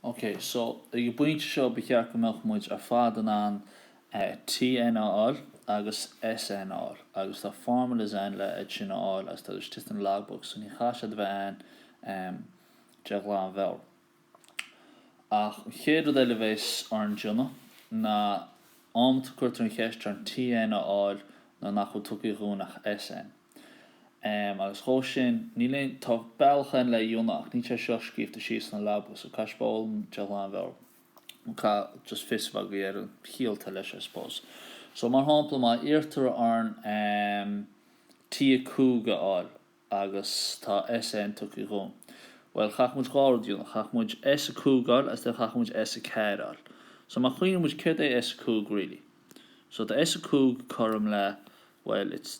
Ok, so ag an bpointe seo ba cheart go mbeadh muid ar fad in ann TN a fháil agus SN a fháil agus tá formulas ann le hiad sin a fháil agus tá siad istigh sna logbook so ní chaithfidh siad a bheith ann de ghlanmheabhair. Ach an chéad rud eile a bhéas orainn déanamh ná amanta cuirtear an cheist orainn TN a fháil nuair nach bhfuil tugtha dhúinn ach SN. Em, agus dhó sin, níl aon, tá bealach ann le é a dhéanamh ach níl sé seo scríobhta síos sna leabhair, so caithfidh sibh é a fhoghlaim de ghlanmheabhair, nó caithfidh just fios a bheith agaibh ar an chiall atá leis, I suppose. So, mar shampla, má iarrtar orainn, em, T5 a fháil agus tá SN tugtha dhúinn, bhuel, chaithfeadh muid dhá rud a dhéanamh, chaithfeadh muid S5 a fháil agus then chaithfeadh muid S4 a fháil. So má chuimhníonn muid, céard é S5 really? So tá S5 cothrom le, bhuel, it's,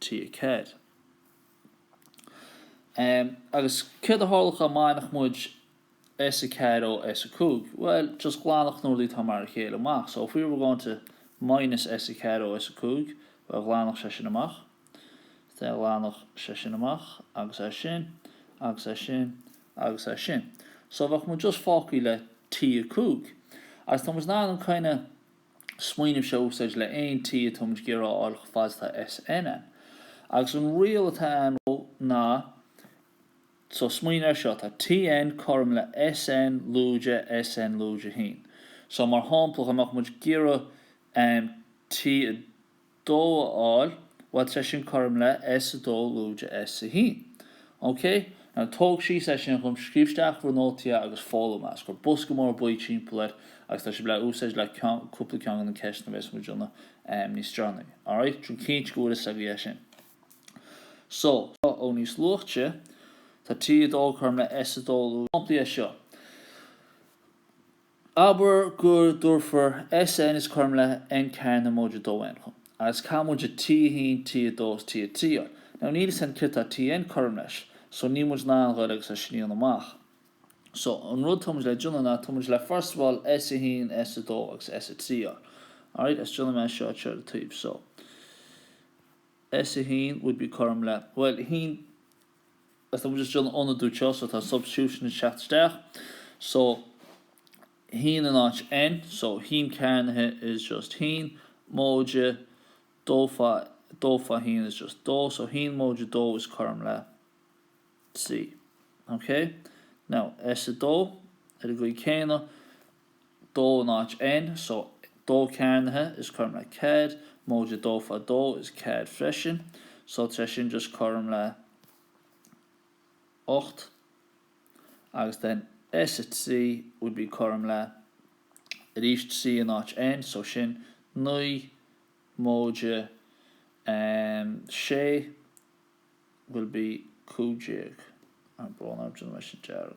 T4. Em, agus céard a tharlodh dhá mbainfeadh muid S4 ó S5? Bhuel, just ghlanfadh na rudaí atá mar a chéile amach, so if we were going to minus S4 ó S5, bhuel ghlanfadh sé sin amach, the, ghlanfadh sé sin amach agus é sin agus é sin agus é sin. So bheadh muid just fágtha le T5. Agus tá muid in ann an kind of. smaoineamh seo a úsáid le aon T a táimid ag iarraidh a fháil chomh fada atá SN ann. Agus an riail atá ann ná, so smaoinigh air seo, tá TN cothrom le SN lúide SN lúide a haon. So mar shampla, dá mbeadh muid ag iarraidh, em, T, 2 a fháil, bhuel bheadh sé sin cothrom le S2 lúide S1. Ok, now tóg síos é sin dhom, scríobh isteach in bhur nótaí agus foghlaim é is, cuir bosca mór buí timpeall air agus tá sibh le é a úsáid le ceann, cúpla ceann de na ceisteanna a bhéas muid ag déanamh níos deireanaí. Alright, déan cinnte go bhfuil a fhios agaibh é sin. So, seo ó níos luaite, tá T2 cothrom le S2 lúide, sampla de seo. Abair go dtabharfar SN is cothrom le N cearnaithe móide dó N dhúinn, agus caithfidh muid T1, T2 is T3 a fháil. Now níl a fhios againn céard atá TN cothrom leis, so níl muid in ann dul agus iad sin a dhéanamh amach. So, an rud tá muid le déanamh ná, tá muid le first of all S1, S2 agus S3 a fháil. Alright, is déanfaidh mé seo ar an taobh so. S1 would be cothrom le, bhuel, a haon, Agus tá muid just ag ionadú anseo, so tá substitution ag teacht isteach. So, haon in áit N, so haon cearnaithe is just haon, móide, dó fá, dó fá haon is just dó, so haon móide dó is cothrom le trí. Okay? Now, S2, ar an gcaoi chéanna, dó in áit N, so dó cearnaithe is cothrom le ceathair, móide dó fá dó is ceathair freisin, so tar éis sin just cothrom le ocht agus then S a trí would be cothrom le arís trí in áit N, so sin naoi móide em sé will be cúig déag, I'm going out in mission dearg.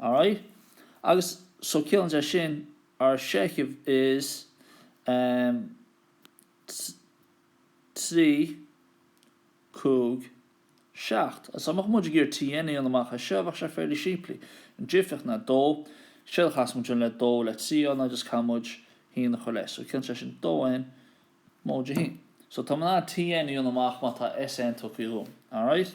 Alright. Agus so ciallaíonn sé sin our seicheamh is ehm trí cúig seacht. So dá mbeadh muid ag iarraidh T N a dhéanamh amach as seo, bheadh sé fairly simplí. An difeach ná dó. Séard a chaithfeas muid a dhéanamh le dó le trí a fháil ná just caithfidh muid haon a chur leis. So ciallaíonn sé sin dó N móide a haon. So tá mé in ann T N a dhéanamh amach má tá S N tugtha dhom. Alright.